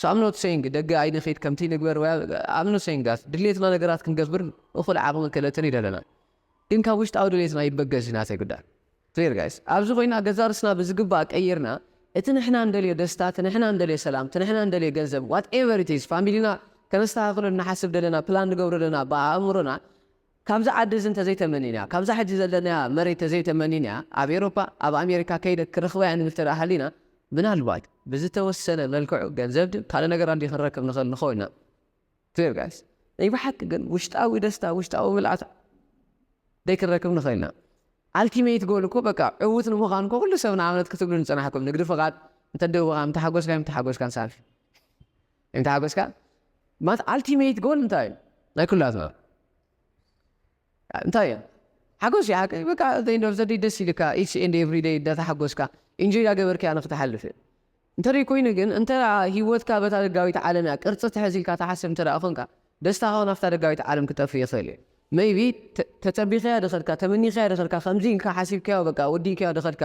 So I'm not saying ደገ ኣይንኺድ ከምቲ ንግበር ወይ I'm not saying that ድሌትና ነገራት ክንገብር እኹል ዓቕምን ክእለትን ይደለና ግን ካብ ውሽጣዊ ድሌትና ይበገስ እዩ ናተይ ጉዳይ Clear guys ኣብዚ ኮይና ገዛ ርስና ብዝግባእ ቀይርና እቲ ንሕና እንደልዮ ደስታ እቲ ንሕና እንደልዮ ሰላም እቲ ንሕና እንደልዮ ገንዘብ what ever it is ፋሚሊና ከነስተኻኽሎ እንሓስብ ደለና ፕላን ንገብሮ ደለና ብኣእምሮና ካብዛ ዓዲ እዚ እንተዘይተመኒና ካብዛ ሕጂ ዘለናያ መሬት ተዘይተመኒና ኣብ ኤሮፓ ኣብ ኣሜሪካ ከይደ ክረኽባ እየ ንብል ተደኣ ሃሊና ምናልባት ብዝተወሰነ መልክዑ ገንዘብ ድዩ ካልእ ነገር ኣድዩ ክንረክብ ንኽእል ንኸውን ኢና Clear guys ናይ ብሓቂ ግን ውሽጣዊ ደስታ ውሽጣዊ ምልኣት ደይ ክንረክብ ንኽእል ኢና ኣልቲሜት ጎል እኮ በቃ ዕውት ንምዃን እኮ ኩሉ ሰብ ንኣብነት ክትብሉ ንጽናሕኩም ንግዲ ፍቓድ እንተደውኻ ምተሓጎስካዮ ምተሓጎስካን ሳልፊ እንተሓጎስካ ማለት ኣልቲሜት ጎል እንታይ እዩ ናይ ኩላትና እንታይ እዩ ሓጎስ እዩ ሓቂ በቃ ዘንድ ኦፍ ዘደይ ደስ ኢልካ ኢትስ ኤንድ ኤቭሪ ደይ እንዳተሓጎስካ ኢንጆይ ዳገበርካ እያ ንክትሓልፍ እዩ እንተደይ ኮይኑ ግን እንተ ሂወትካ በታ ደጋዊት ዓለም እያ ቅርፂ ትሕዝ ኢልካ ትሓስብ እንተ ኮንካ ደስታኻ እውን ኣብታ ደጋዊት ዓለም ክጠፍእ ይኽእል እዩ መይቢ ተፀቢኻያ ድኸድካ ተመኒኻያ ድኸድካ ከምዚ ኢልካ ሓሲብካዮ በቃ ወዲእካዮ ድኸድካ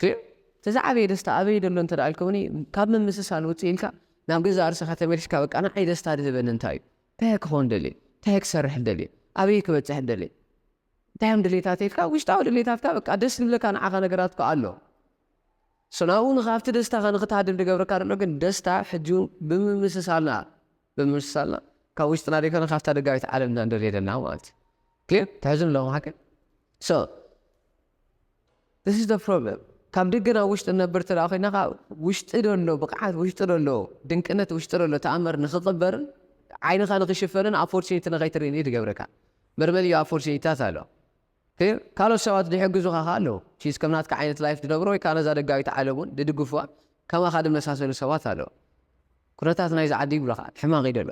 ግን እቲ ዝዓበየ ደስታ ኣበይ ደሎ እንተ ኢልኩምኒ ካብ ምምስሳል ውጽእ ኢልካ ናብ ገዛእ ርእሰኻ ተመሊስካ በቃ ንዓይ ደስታ ድህበኒ እንታይ እዩ? እንታይ'የ ክኸውን ደልየ? እንታይ'የ ክሰርሕ ደልየ? ኣበይ'የ ክበጽሕ ደልየ? እንታይ'ዮም ድሌታተይ? ኢልካ ውሽጣዊ ድሌታትካ በቃ ደስ ዝብለካ ንዓኻ ነገራት እኮ ኣሎ። ሶ ናብኡ ንኻብቲ ደስታኻ ንኽትሃድም ድገብረካ ደሎ ግን ደስታ ሕጂ'ውን ብምምስሳልና። ብምምስሳልና ካብ ውሽጥና ዘይኮነ ካብታ ደጋዊት ዓለም ኢና ንደልዮ ዘለና ማለት እዩ። ግን ተሕዝኑ ኣለኹም ሓቂ so this is the problem ካብ ደገ ናብ ውሽጢ ንነብር እንተ ደኣ ኮይና ከኣ ውሽጢ ዘሎ ብቕዓት ውሽጢ ዘሎ ድንቅነት ውሽጢ ዘሎ ተኣምር ንኽቕበርን ዓይንኻ ንኽሽፈንን ኣፖርቹኒቲ ንኸይትርኢ እዩ ዝገብረካ። መርበብ እዩ ኣፖርቹኒቲታት ኣሎ። ፔር፣ ካልኦት ሰባት ድሕግዙኻ ከኣ ኣለዉ። ቺዝ ከም ናትካ ዓይነት ላይፍ ድነብሩ ወይ ከኣ ነዛ ደጋዊት ዓለም ውን ድድግፉዋ ከማኻ ድመሳሰሉ ሰባት ኣለዉ። ኩነታት ናይዚ ዓዲ ይብሉኻ ሕማቕ እዩ ደሎ።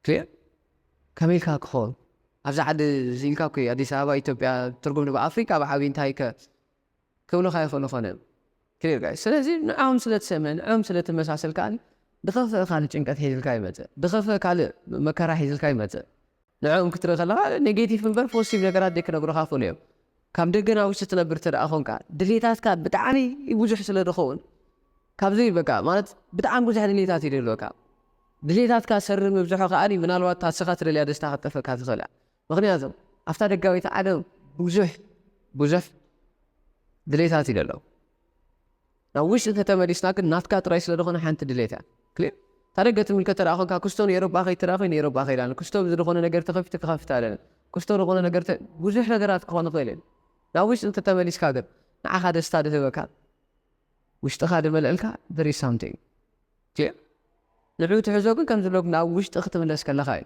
ፔር፣ ከመይ ኢልካ ክኸውን ኣብዛ ዓዲ ኢልካ እኮ እዩ ኣዲስ ኣበባ ኢትዮጵያ ትርጉም ንብ ኣፍሪቃ ብዓቢኡ እንታይ ከ ክብሉኻ ይኽእሉ ኾን እዮም clear guys ስለዚ ንዖም ስለ ትሰምዕ ንዖም ስለ ትመሳሰል ከኣ ብኸፍእ ካልእ ጭንቀት ሒዝልካ ይመጽእ ብኸፍእ ካልእ መከራ ሒዝልካ ይመጽእ ንዖም ክትርኢ ከለኻ ኔጌቲቭ እምበር ፖዚቲቭ ነገራት ደይ ክነግሩኻ ይኽእሉ እዮም ካብ ደገ ናብ ውሽጢ ትነብር ተደኣ ኾንካ ድሌታትካ ብጣዕሚ ብዙሕ ስለ ድኸውን ካብዚ በቃ ማለት ብጣዕሚ ብዙሕ ድሌታት እዩ ደልወካ ድሌታትካ ሰሪ ምብዝሖ ከኣ ምናልባት ታስኻ ትደልያ ደስታ ክትጠፈካ ትኽእል እያ ምኽንያቱ ኣብታ ደጋዊት ዓለም ብዙሕ ብዙሕ ድሌታት እዩ ደሎ። ናብ ውሽጢ እንተተመሊስና ግን ናትካ ጥራይ ስለ ዝኾነ ሓንቲ ድሌት እያ። ክሊር እታ ደገ ትምልከት ተደኣ ኮንካ ክስቶ ንኤሮጳ ከይድ ተደኣ ኮይነ ኤሮጳ ከይድ ኣለኒ። ክስቶ ዝድኾነ ነገር ተኸፊቱ ክኸፍት ኣለኒ። ክስቶ ዝኾነ ነገር ተ ብዙሕ ነገራት ክኾን ይኽእል እዩ። ናብ ውሽጢ እንተተመሊስካ ግን ንዓኻ ደስታ ድህበካ ውሽጥኻ ድመልእልካ there is something። ክሊር ንዑኡ ትሕዞ ግን ከምዝብሎ ናብ ውሽጢ ክትምለስ ከለኻ እዩ።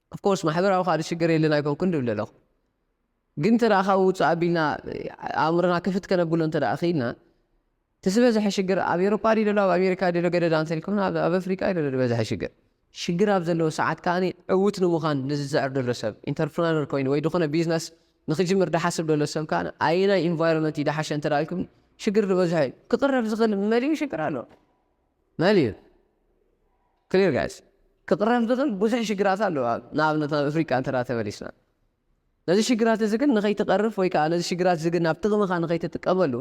Of course ማሕበራዊ ካልእ ሽግር የለን ኣይኮንኩን ድብል ኣለኹ ግን እንተ ካብኡ ውጽእ ኣቢልና ኣእምሮና ክፍት ከነብሎ እንተ ክኢልና እቲ ዝበዝሐ ሽግር ኣብ ኤሮፓ ድዩ ዘሎ ኣብ ኣሜሪካ ድዩ ዘሎ ገደዳ እንተልኩም ኣብ ኣፍሪቃ እዩ ዘሎ ዝበዝሐ ሽግር ሽግር ኣብ ዘለዎ ሰዓት ከኣ ዕውት ንምዃን ንዝጽዕር ዘሎ ሰብ ኢንተርፕረነር ኮይኑ ወይ ዝኾነ ቢዝነስ ንክጅምር ድሓስብ ዘሎ ሰብ ከኣ ኣየናይ ኢንቫይሮንመንት እዩ ድሓሸ እንተ ኢልኩም ሽግር ዝበዝሐ እዩ ክቕረብ ዝኽእል መሊኡ ሽግር ኣሎ መሊኡ Clear guys ክቕረፍ ዝኽእል ብዙሕ ሽግራት ኣሎ ኣብ ንኣብነት ናብ እፍሪቃ እንተ ተመሊስና ነዚ ሽግራት እዚ ግን ንኸይትቐርፍ ወይ ከኣ ነዚ ሽግራት እዚ ግን ናብ ጥቕምኻ ንኸይትጥቀመሉ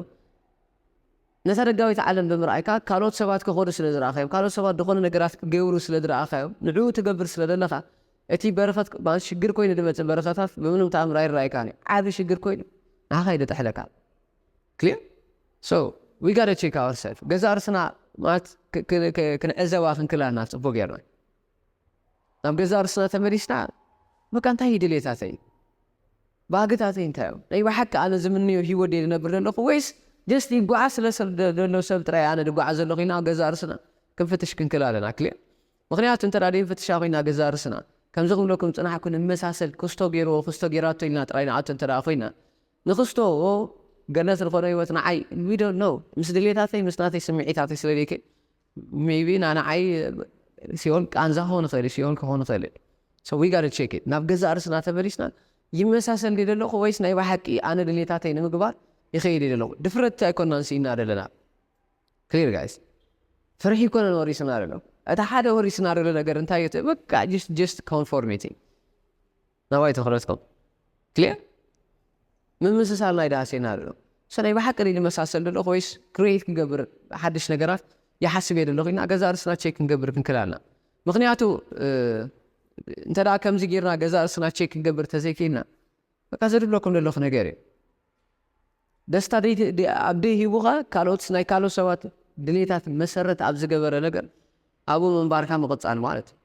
ነታ ደጋዊት ዓለም ብምርኣይካ ካልኦት ሰባት ከኸዱ ስለ ዝረኣኻዮም ካልኦት ሰባት ዝኾነ ነገራት ክገብሩ ስለ ዝረኣኻዮም ንዕኡ ትገብር ስለ ዘለኻ እቲ በረኸት ማለት ሽግር ኮይኑ ዝመጽእ በረኸታት ብምንም ተኣምር ኣይረኣይካን እዩ ዓቢ ሽግር ኮይኑ ንዓኻ እዩ ዝጥሕለካ Clear? So, we gotta check ourselves. ገዛእ ርእስና ማለት ክንዕዘባ ክንክእል ኣለና ጽቡቕ ጌርና። ናብ ገዛእ ርእስና ተመሊስና በቃ እንታይ እዩ ድሌታተይ? ባህግታተይ እንታይ እዮም? ናይ ብሓቂ ኣነ ዝምነዮ ህይወት ድየ ዝነብር ዘለኹ ወይስ ጀስት ይጓዓዝ ስለ ዘሎ ሰብ ጥራይ ኣነ ዝጓዓዝ ዘለኹ ኢና ገዛእ ርእስና ክንፍትሽ ክንክእል ኣለና። ክሊር ምክንያቱ እንተ ዘይንፍትሻ ኮይና ገዛእ ርእስና ከምዚ ክብለኩም ጽናሕኩ ንመሳሰል ክስቶ ገይርዎ ክስቶ ገይራቶ ኢልና ጥራይ ንኣቶ እንተ ኮይና ንክስቶ ገነት ንኮዶ ሂወት ንዓይ we don't know ምስ ድሌታተይ ምስ ናተይ ስሚዒታተይ ስለ ደይከ maybe ን ንዓይ ሲኦል ቃንዛ ክኮን ይክእል እዩ ሲኦል ክኮን ይክእል እዩ so we gotta check it ናብ ገዛእ ርስና ተመሊስና ይመሳሰል ድየ ደለኩ ወይስ ናይ ባሓቂ ኣነ ድሌታተይ ንምግባር ይከይድ እየ ደለኩ ድፍረት ኣይኮናን ሲኢና ደለና clear guys ፍርሒ ኣይኮነን ወሪስና ደሎ እቲ ሓደ ወሪስና ደሎ ነገር እንታይ እዩ እቲ በቃ just just conformity ናባይ ትኹረትኩም ክሊር ምምስሳል ናይ ድኣ ሴናርዮ ሶ ናይ ብሓቂ ድዩ ዝመሳሰል ዘለኹ ወይስ ክሪኤት ክንገብር ሓድሽ ነገራት ይሓስብ እየ ዘለኹ ኢልና ገዛእ ርእስና ቼክ ክንገብር ክንክል ኣለና ምክንያቱ እንተ ደኣ ከምዚ ጌርና ገዛእ ርእስና ቼክ ክንገብር እንተዘይክኢልና በቃ ዘድብለኩም ዘለኹ ነገር እዩ ደስታ ኣብ ደይ ሂቡኻ ካልኦት ናይ ካልኦት ሰባት ድሌታት መሰረት ኣብ ዝገበረ ነገር ኣብኡ ምንባርካ ምቕጻል ማለት እዩ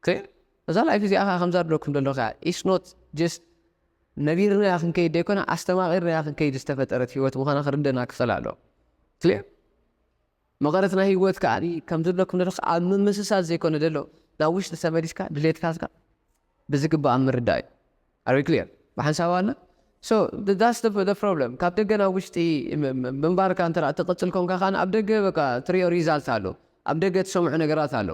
ግን እዛ ላይፍ እዚኣ ከኣ ከምዛ ድለኩም ደለኩ ኢያ ኢትስ ኖት ጀስት ነቢርናያ ክንከይድ ደይኮና ኣስተማቂርናያ ክንከይድ ዝተፈጠረት ሂወት ምኳና ክርደና ክክእል ኣለዎ ክሊር መቀረት ናይ ሂወት ከኣ ከምዚ ድለኩም ደለኩ ኣብ ምምስሳል ዘይኮነ ደሎ ናብ ውሽጢ ተመሊስካ ድሌትካትካ ብዝግባእ ምርዳእ ኢዩ ኣር ዊ ክሊር ብሓንሳብ ኣለ ሶ ዳትስ ዘ ዘ ፕሮብለም ካብ ደገ ናብ ውሽጢ ምንባርካ እንተ ትቅጽል ኮንካ ከኣ ኣብ ደገ በቃ ትሪኦ ሪዛልት ኣሎ ኣብ ደገ ትሰምዖ ነገራት ኣሎ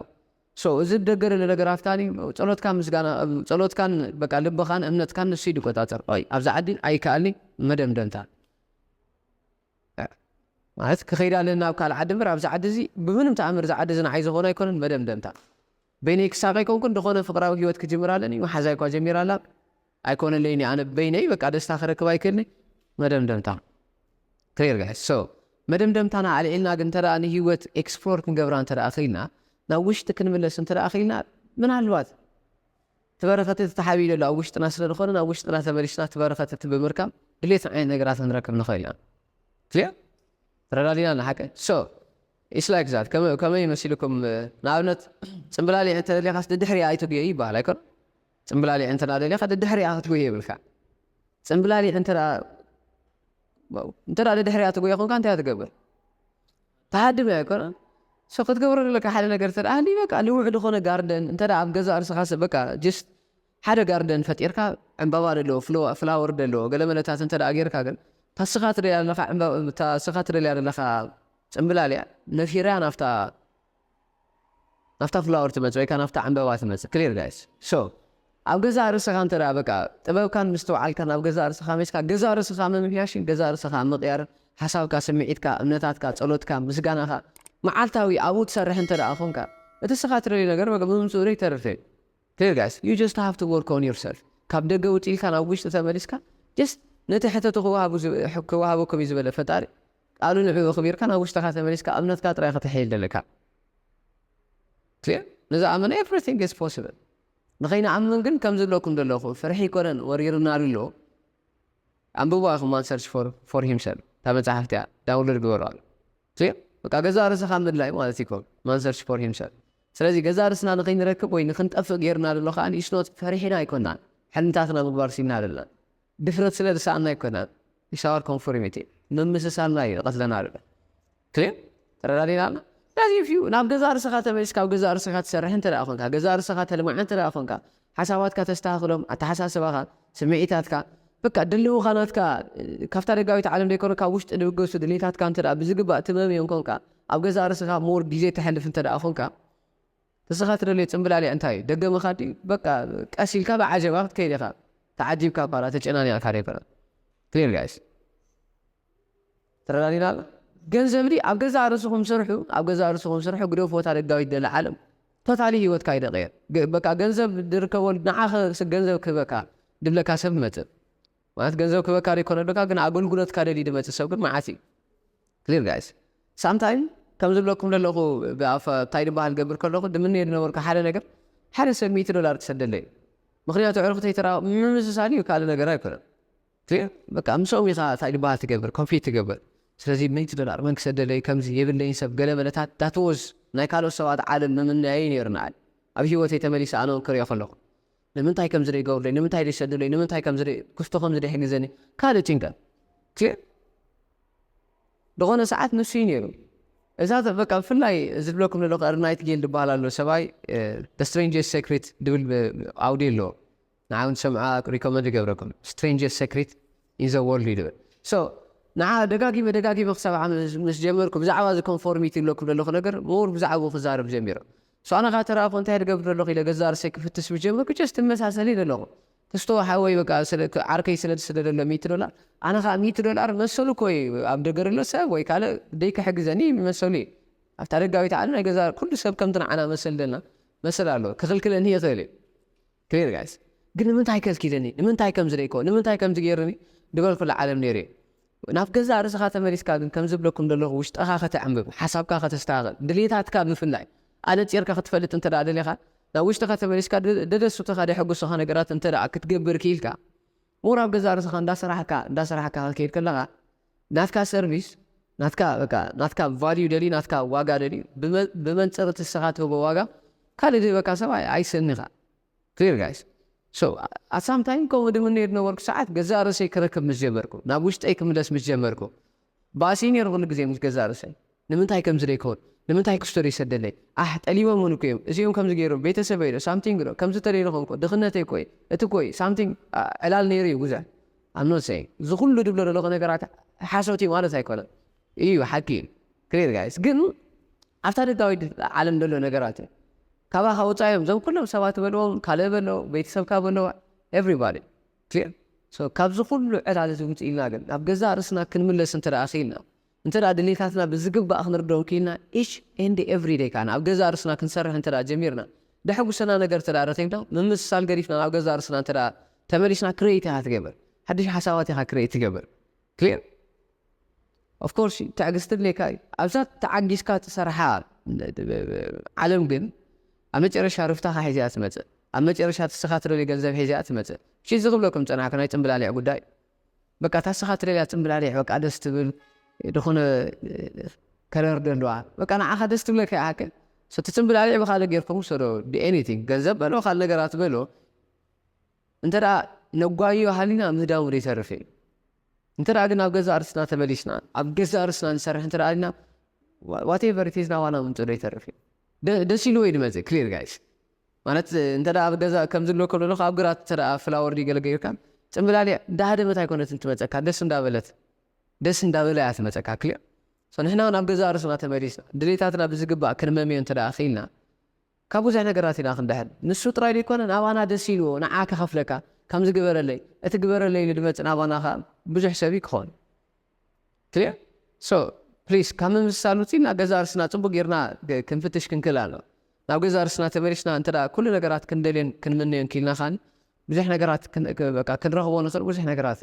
So እዚ ብደገ ለ ነገራት ካኒ ጸሎትካን ምስጋና ጸሎትካን በቃ ልብኻን እምነትካን ንሱ እዩ ድቆጻጸር ኦይ ኣብዛ ዓዲ ኣይከኣልኒ መደምደምታ ማለት ክኸይድ ኣለኒ ናብ ካልእ ዓዲ እምበር ኣብዚ ዓዲ እዚ ብምንም ተኣምር እዚ ዓዲ እዚ ንዓይ ዝኾነ ኣይኮነን መደምደምታ በይነይ ክሳቀ ኣይኮንኩን ድኾነ ፍቅራዊ ሂወት ክጅምር ኣለኒ መሓዛይ እኳ ጀሚራ ኣላ ኣይኮነለይን እዩ ኣነ በይነይ በቃ ደስታ ክረክብ ኣይክእልን እየ መደምደምታ clear guys so መደምደምታና ኣልዒልና ግን እንተ ንሂወት ኤክስፕሎር ክንገብራ እንተ ክኢልና ናብ ውሽጢ ክንምለስ እንተ ክኢልና ምናልባት እቲ በረኸት እቲ ተሓቢኡ ዘሎ ኣብ ውሽጥና ስለ ዝኾነ ናብ ውሽጥና ተመሊስና እቲ በረኸት እቲ ብምርካብ ድሌት ዓይነት ነገራት ክንረክብ ንኽእል ኢና ክሊር ተረዳዲና ንሓቀ ሶ ኢስ ላይክ ዛት ከመይ መሲልኩም ንኣብነት ፅምብላሊዕ እንተደሊኻስ ድድሕሪያ ኣይትጉየይ ይበሃል ኣይኮነ ጽምብላሊዕ እንተ ደሊኻ ደድሕሪኣ ክትጎዪ የብልካን። ጽምብላሊዕ እንተ እንተ ደድሕሪኣ ትጎዪ ኮንካ እንታይ ትገብር? ትሃድም እያ ኣይኮነን? ሶ ክትገብሮ ዘለካ ሓደ ነገር እንተ ሃልዩ በቃ ንውዕ ዝኾነ ጋርደን እንተ ኣብ ገዛ ርስኻ በቃ ጅስት ሓደ ጋርደን ፈጢርካ ዕምባባ ደለዎ ፍላወር ደለዎ ገለመለታት እንተ ጌርካ ግን ታስኻ ትደልያ ዘለኻ ታስኻ ትደልያ ዘለኻ ጽምብላሊዕ ነፊራ ናብታ ናፍታ ፍላወር ትመጽእ ወይ ከኣ ናፍታ ዕንበባ ትመጽእ clear guys so ኣብ ገዛእ ርእስኻ እንተ በቃ ጥበብካን ምስትውዓልካን ኣብ ገዛእ ርእስኻ ሜስካ ገዛእ ርእስኻ ምምሕያሽን ገዛእ ርእስኻ ምቕያርን ሓሳብካ ስምዒትካ እምነታትካ ጸሎትካ ምስጋናኻ መዓልታዊ ኣብኡ ትሰርሕ እንተ ኮንካ እቲ እስኻ ትደልዮ ነገር በቃ ብምምጽኡ ዶ ይተርፍ እዩ clear guys you just have to work on yourself ካብ ደገ ውጢልካ ናብ ውሽጢ ተመሊስካ just ነቲ ሕተቱ ክወሃቡ ክወሃበኩም እዩ ዝበለ ፈጣሪ ቃሉ ንዕኡ ኣኽቢርካ ናብ ውሽጥኻ ተመሊስካ እምነትካ ጥራይ ከተሐይል ደለካ clear ንዝኣመነ everything is possible ንኸይንኣምን ግን ከምዚ እብለኩም ደለኹ ፍርሒ ኣይኮነን ወሪሩና ኣሎ ኣንብብዋ ኢኹም one search for for himself እታ መጽሓፍቲ እያ ዳውንሎድ ግበርዋ clear በቃ ገዛእ ርእስኻ ምድላይ ማለት እዩ one search for himself ስለዚ ገዛእ ርእስና ንኸይንረክብ ወይ ንኽንጠፍእ ጌሩና ደሎ ከኣ it's not ፈሪሕና ኣይኮናን ሕልምታትና ምግባር ሲኢንና ደለና ድፍረት ስለ ዝሰኣና ኣይኮናን ኢትስ ኣወር ኮንፎርሚቲ ምምስሳልና እዩ ዝቀትለና ዘሎ ክሊር ተረዳዲና ኣሎ ስለዚ ኢፍ ዩ ናብ ገዛእ ርእስኻ ተመሊስካ ኣብ ገዛእ ርእስኻ ትሰርሕ እንተ ኮንካ ገዛእ ርእስኻ ተልምዓ እንተ ኮንካ ሓሳባትካ ተስተኻኽሎም ኣተሓሳስባኻ ስምዒታትካ በቃ ድልውኻ ናትካ ካብታ ደጋዊት ዓለም ዘይኮነ ካብ ውሽጢ ድብገሱ ድሌታትካ እንተ ብዝግባእ ትመምዮም ኮንካ ኣብ ገዛእ ርእስኻ ሞር ግዜ ተሕልፍ እንተ ኮንካ ንስኻ ትደልዮ ጽምብላሊዕ እንታይ እዩ ደገ ምኻድ ድዩ በቃ ቀስ ኢልካ ብዓጀባ ክትከይድ ኢኻ ተዓጂብካ እኳ ተጨናኒቕካ ደይኮነ clear guys ተረዳዲና ኣሎ ገንዘብ ድዩ ኣብ ገዛእ ርእስኹም ስርሑ ኣብ ገዛእ ርእስኹም ስርሑ ግደፉ ወታ ደጋዊት ደለ ዓለም ቶታሊ ሂወትካ ይደቕየር በቃ ገንዘብ ድርከበሉ ንዓኽ ገንዘብ ክህበካ ድብለካ ሰብ ክመጽእ ማለት ገንዘብ ክህበካ ዶ ኣይኮነን ደልካ ግን ኣገልግሎትካ ደልዩ ድመጽእ ሰብ ግን መዓት እዩ clear guys ሳምታይም ከም ዝብለኩም ደለኹ ብኣፍ ታይ ድበሃል ገብር ከለኹ ድምነዮ ድነበርኩ ሓደ ነገር ሓደ ሰብ ሚእቲ ዶላር ክሰደለይ ምክንያቱ ዕርክተይ ተራ ምምስሳል እዩ ካልእ ነገር ኣይኮነን clear በቃ ምስኦም ኢኻ ታይ ድበሃል ትገብር ኮምፒት ትገብር ስለዚ ሚእቲ ዶላር መን ክሰደለይ ከምዚ የብለይን ሰብ ገለ መለታት that was ናይ ካልኦት ሰባት ዓለም ምምነያይ እዩ ነይሩ ንዓይ ኣብ ሂወተይ ተመሊሰ ኣነኦም ክሪኦ ከለኹ ንምንታይ ከምዚ ደይገብሩለይ ንምንታይ ደይሰዱለይ ንምንታይ ከምዚ ደይ ክስቶ ከምዚ ደይሕግዘኒ ካልእ ጭንቀት ቲዕ ድኾነ ሰዓት ንሱ እዩ ነይሩ እዛ ዘ በቃ ብፍላይ እዚ ዝብለኩም ዘለኹ እርናይት ጌል ድበሃል ኣሎ ሰብኣይ ደ ስትሬንጀስ ሴክሪት ድብል ብ- ኣውድዮ ኣለዎ ንዓይ እውን ሰምዓ ሪኮመንድ ይገብረኩም ስትሬንጀስ ሴክሪት ኢን ዘ ወርልድ እዩ ድብል ሶ ንዓ ደጋጊመ ደጋጊመ ክሰምዓ ምስ ምስ ጀመርኩ ብዛዕባ እዚ ኮንፎርሚቲ ዝብለኩም ዘለኹ ነገር ምሁር ብዛዕባኡ ክዛረብ ጀሚሩ ሳኣና ካኣ ተራኣኩ እንታይ ድገብር ደለኩ ኢለ ገዛእ ርእሰይ ክፍትሽ ምስ ጀመርኩ ጀስት ትመሳሰል ኢለ ኣለኩ ክስቶ ሓወይ በቃ ዓርከይ ስለ ድስደደሎ ሚእቲ ዶላር ኣነ ካኣ ሚእቲ ዶላር መሰሉ እኮ ኢዩ ኣብ ደገ ደሎ ሰብ ወይ ካልእ ደይ ክሕግዘኒ መሰሉ ኢዩ ኣብታ ደጋዊት ዓለም ናይ ገዛእ ኩሉ ሰብ ከምቲ ንዓና መሰል ደልና መሰል ኣለዎ ክክልክለኒ ይክእል ኢዩ Clear guys ግን ንምንታይ ከልኪለኒ ንምንታይ ከምዚ ደይኮ ንምንታይ ከምዚ ገይሩኒ ድበልኩላ ዓለም ነይሩ እየ ናብ ገዛእ ርእስኻ ተመሊስካ ግን ከምዚ እብለኩም ደለኹ ውሽጠኻ ከተዕምብብ ሓሳብካ ከተስተኻኽል ድልየታትካ ብፍላይ ኣነጺርካ ክትፈልጥ እንተ ደሊኻ ናብ ውሽጥኻ ተመሊስካ ደደሱትኻ ደሕጉሱኻ ነገራት እንተ ክትገብር ኪኢልካ ምሁር ኣብ ገዛእ ርእስኻ እንዳሰራሕካ እንዳሰራሕካ ክትከይድ ከለኻ ናትካ ሰርቪስ ናትካ በቃ ናትካ ቫልዩ ደልዩ ናትካ ዋጋ ደልዩ ብመንጽር እቲ ንስኻ ትህቦ ዋጋ ካልእ ዝህበካ ሰብ ኣይስእን ኢኻ clear guys so at some time ከምኡ ድምነዮ ዝነበርኩ ሰዓት ገዛእ ርእሰይ ክረክብ ምስ ጀመርኩ ናብ ውሽጠይ ክምለስ ምስ ጀመርኩ ባእሲ ነይሩ ኩሉ ግዜ ምስ ገዛእ ርእሰይ ንምንታይ ከምዚ ደይከውን ንምንታይ ክስቶ ደይሰደለይ ኣሕ ጠሊቦምውን እኮ እዮም እዚኦም ከምዚ ገይሮም ቤተሰበይ ዶ ሳምቲንግ ዶ ከምዚ ተደይረኹም እኮ ድኽነተይ እኮ እዩ እቲ እኮ እዩ ሳምቲንግ ዕላል ነይሩ እዩ ብዙሕ I'm not saying እዚ ኩሉ ድብሎ ደለኹ ነገራት ሓሶት እዩ ማለት ኣይኮነን እዩ ሓቂ እዩ ክሊር ጋይስ ግን ኣብታ ደጋዊት ዓለም ደሎ ነገራት እዩ ካባኻ ወፃኢ እዮም እዞም ኩሎም ሰባት በልዎም ካልእ በሎ ቤተሰብካ በሎ ኤቭሪባዲ ክሊር ሶ ካብዚ ኩሉ ዕላል እዚ ውጺእና ግን ናብ ገዛእ ርእስና ክንምለስ እንተ ክኢልና እንተ ድሌታትና ብዝግባእ ክንርድኦም ክኢልና ኢች ኤንድ ኤቭሪ ደይ ከኣ ኣብ ገዛእ ርእስና ክንሰርሕ እንተ ጀሚርና ደሕጉሰና ነገር እንተ ረኺብና ምምስሳል ገዲፍና ናብ ገዛእ ርእስና እንተ ተመሊስና ክሬት ኢኻ ትገብር ሓድሽ ሓሳባት ኢኻ ክሬት ትገብር Clear? Of course ትዕግስቲ የድልየካ እዩ ኣብዛ ተዓጊስካ ትሰርሓ ዓለም ግን ኣብ መጨረሻ ርፍታኻ ሒዛ እያ ትመፅእ ኣብ መጨረሻ ትስኻ ትደልዮ ገንዘብ ሒዛ እያ ትመፅእ እሺ እዚ ክብለኩም ፀናሕኩ ናይ ፅምብላሊዕ ጉዳይ እዩ በቃ እታ ስኻ ትደልያ ፅምብላሊዕ በቃ ደስ ትብል ዝኾነ ከለር ደለዋ በቃ ንዓኻ ደስ ትብለካ እያ ሃከ እቲ ፅምብላሊዕ ብካልእ ጌርኩም ውሰዶ ኤኒቲንግ ገንዘብ በሎ ካልእ ነገራት በሎ እንተ ነጓይዮ ሃሊና ምህዳሙ ዘይተርፍ እዩ። እንተ ግን ኣብ ገዛእ ርስና ተመሊስና ኣብ ገዛእ ርስና ንሰርሕ እንተ ኣሊና ዋቴቨር ኢት ኢዝ ናባና ምምጽኡ ዘይተርፍ እዩ። ደስ ኢልዎ እዩ ድመጽእ ክሊር ጋይስ ማለት እንተ ኣብ ገዛ ከምዚ ኣሎ ከሎ ኣብ ግራት እንተ ፍላወር ድዩ ገለ ገይርካ ጽምብላሊዕ እንዳሃደመት ኣይኮነትን ትመጸካ ደስ እንዳበለት ደስ እንዳበለ እያ ትመጸካ ክሊር ንሕና ውን ኣብ ገዛእ ርስና ተመሊስና ድሌታትና ብዝግባእ ክንመምዮ እንተ ክኢልና ካብ ብዙሕ ነገራት ኢና ክንድሕን ንሱ ጥራይ ደይኮነ ናባና ደስ ኢልዎ ንዓ ክከፍለካ ከምዚ ግበረለይ እቲ ግበረለይ ኢሉ ድመጽእ ናባና ከኣ ብዙሕ ሰብ እዩ ክኮን clear so please ካብ ምምስሳል ውጽ ኢልና ገዛእ ርስና ጽቡቅ ጌርና ክንፍትሽ ክንክእል ኣለና ናብ ገዛእ ርስና ተመሊስና እንተ ኩሉ ነገራት ክንደልዮን ክንምነዮን ኪኢልና ከኣ ብዙሕ ነገራት ክንረክቦ ንክእል ብዙሕ ነገራት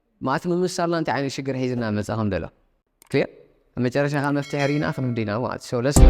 ማት ምምሳልና እንታይ ዓይነት ሽግር ሒዝልና መጸ ከም ደሎ clear ኣብ መጨረሻ ከኣ መፍትሒ ሪኢና ክንዲ ኢና ማለት so let's go።